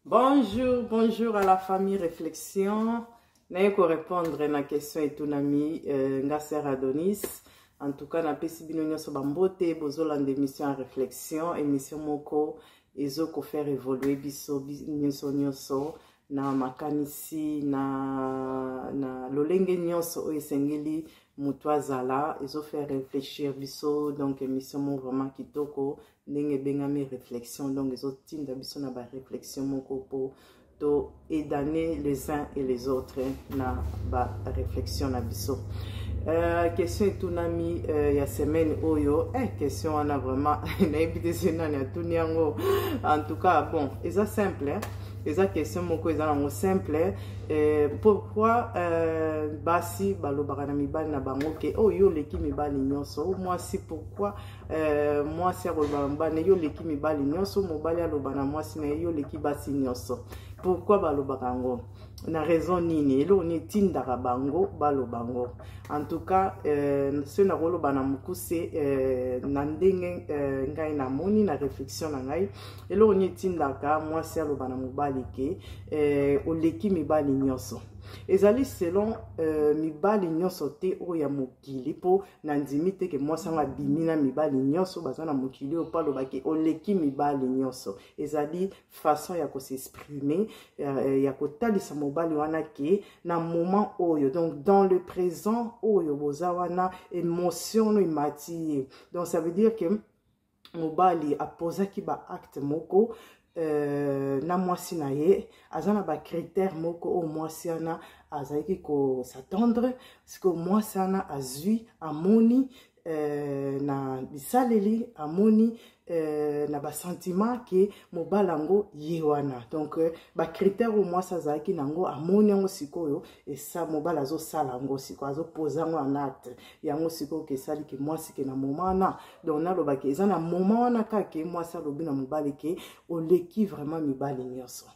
Bonjour, bonjour à la famille Réflexion. naye korépondre na question etunami euh, nga ser adonis en tout cas napesi bino nyonso bambote bozolanda émission ya réflexion émission moko ezo kofaire évoluer biso nyonso nyonso na makanisi na, na lolenge nyonso oyo esengeli moto azala ezofaire réfléchir biso donc émission moko vraiment kitoko ndenge ebengami réflexion donc ezotinda biso na baréflexion moko mpo to edane les uns et les autres na baréflexion na biso Uh, question etunami uh, ya semaine oyo eh, question wana vraiment nayebi te se nani atuni yango en tout cas bon eza simple eh? eza question moko eza nango simple eh, pourquoi eh, basi balobaka na mibali na bango ke oyo oh, yo oleki mibali nyonso oh, mwasi pourquoi eh, mwasi akoloba na mobali na ye oleki mibali nyonso mobali aloba na mwasi na ye yo oleki basi nyonso pourkui balobaka yango na raison nini eloko nini etindaka bango baloba yango en tout cas eh, soki nakoloba na mokuse eh, na ndenge eh, ngai namoni na réflexion na ngai eloko nini etindaka mwasi aloba na mobali ke eh, oleki mibali nyonso ezali selon euh, mibali nyonso te oyo ya mokili mpo nandimi te ke mwasi yango abimi na mibali nyonso baza na mokili oyo mpo alobaki oleki mibali nyonso ezali façon ya kosexprime euh, ya kotalisa mobali wana ke na moment oyo donc dans le présent oyo boza wana émotion no emati ye donc ça veut dire que mobali apozaki ba acte moko euh, na mwasi na ye aza na bacritère moko oyo mwasi wana azalaki kosatendre sikoyo mwasi wana azwi amoni euh, na bisaleli amoni euh, na basentiment ke mobali yango ye wana donc euh, bacritère oyo mwasi azalaki na yango amoni yango sikoyo esa mobali azosala yango sikoyo azopoza yango en acte yango sikoyo ke esali ke mwasi ke na moma wana donc nalobaki eza na moma wana kaka ke mwasi alobi na mobali ke oleki vraiment mibali nyonso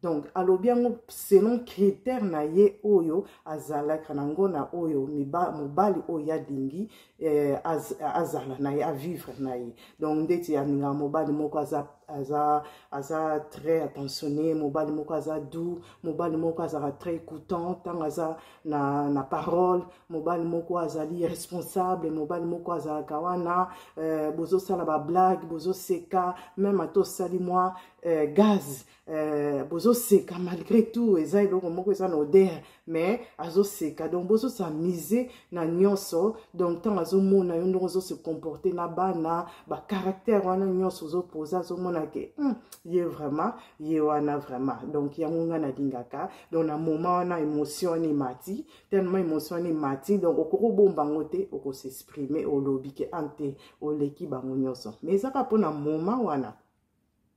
donc alobi yango selon critère na ye oyo azalaka nango na oyo mibali oyo alingi eh, az, azala na ye avivre na ye donc ndeti alingaka mobali moko aza, aza, aza très attentionné mobali moko aza doux mobali moko azalaka très écoutant ntango aza na, na parole mobali moko azali responsable mobali moko azalaka wana eh, bozosala bablague bozoseka meme ata osali mwa eh, gaz Euh, bozoseka malgré tout eza eloko moko eza na odere mais azoseka donc bozosa mise na nyonso donc ntango azomona yo ndongo ozo se comporter na bana bacaractère wana nyonso ozopoza azomona ke hmm, ye vraiment ye wana vraiment donc yango ngai nalingaka donc na moment wana émotion wana emati tellement émotion wana emati donc okoki obomba yango te okosexprime olobi ke ante ah, oleki bango nyonso mais ezaka mpona moment wana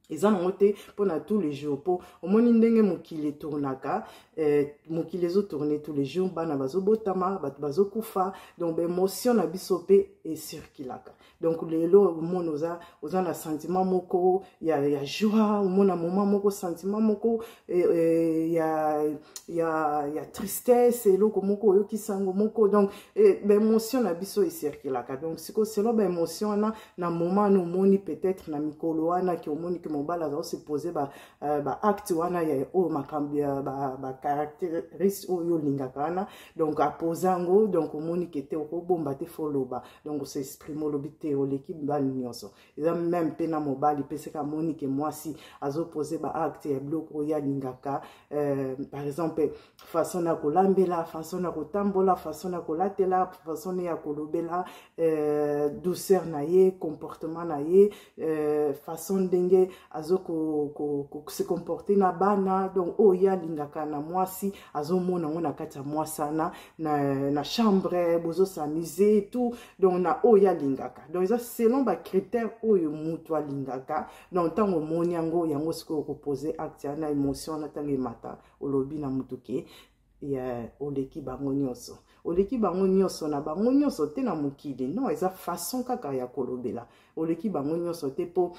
eza nango te mpo na tous les jours mpo omoni ndenge mokili etournaka eh, mokili ezotourne tous les jours bana bazobotama bato bazokufa donc baémotion na biso mpe ecirculaka donc lelo omona oza, oza na sentiment moko ya, ya joie omona moment moko sentiment moko eh, eh, ya, ya, ya tristesse eloko moko oyokisango moko donc eh, baémotion na biso ecirculaka donc siko selo baémotion wana na moment wana omoni peut-être na mikolo wana ke omoni ke mobali aza ose pose ba, uh, ba acte wana ya oyo makambo ya ba, ba caractéristique oyo olingaka wana donc apose yango donc omoni ke te okobomba te fo oloba donc ose exprime olobi te oleki mibali nyonso eza meme mpe na mobali mpe seka amoni ke mwasi azopose ba acte ya biloko oyo alingaka uh, par exemple façon ya kolambela façon ya kotambola façon ya kolatela façon ya kolobela euh, douceur na ye comportement na ye euh, façon ndenge azo ko, ko, ko, se comporter na bana donc oyo oh, ye alingaka na mwasi azomona yango na kati ya mwasi wana na, na chambre bozo s'amuse tout donc na oyo oh, ye alingaka donc eza selon bacritère oyo motu alingaka donc ntango omoni yango yango sikoyo okopose acte ya na émotion na ntango emata olobi na moto ke ya oleki bango nyonso oleki bango nyonso na bango nyonso te na mokili non eza façon kaka ya kolobela oleki bango nyonso te mpo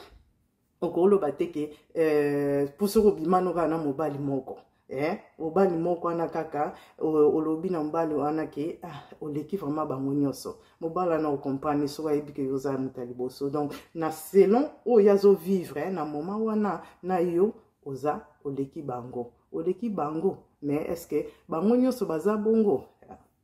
okoloba te ke euh, mpo soki obimano kaka na mobali moko eh, mobali moko wana kaka olobi na mobali wana ke ah, oleki vraiment bango nyonso mobali wana okomprane soki ayebi ke yo oza moto ya liboso donc na selon oyo azovivre eh, na moma wana na yo oza oleki bango oleki bango mais est ce que bango nyonso baza bongo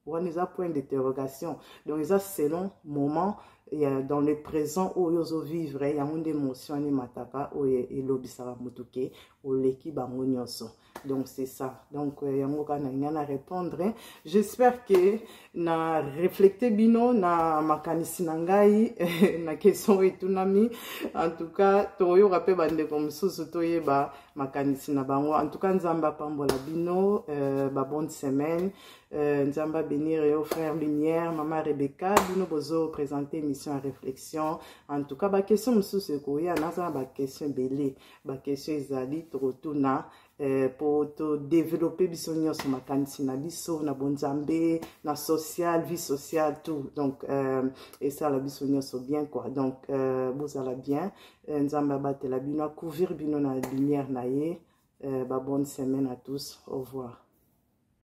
wana eza point d'interrogation donc eza selon moment ya dans le présent oyo ozovivre yango nde motion wana emataka oyo elobisaka motu ke oleki bango nyonso donc c'est ça donc euh, yango kaka nalinga na répondre j'espère que na reflete bino na makanisi na ngai na question oyo etunami en tout cas tokoyoka mpe bandeko mosusu toyeba makanisi na bango en tout cas nzambe apambola bino euh, babonne semaine euh, nzambe abenir yo frère lumière mama rebecca bino bozo présente émission ya réflexion en tout cas baquestion mosusu ekoya naza na baquestion ebele baquestion ezali tokotuna eh, mpo todevelope biso nyonso makanisi na biso na bonzambe na social vie sociale tout donc euh, esala biso nyonso bien quoi donc euh, bozala bien euh, nzambe abatela bino akouvrir bino na lumière na ye euh, babonne semaine à tous au revoir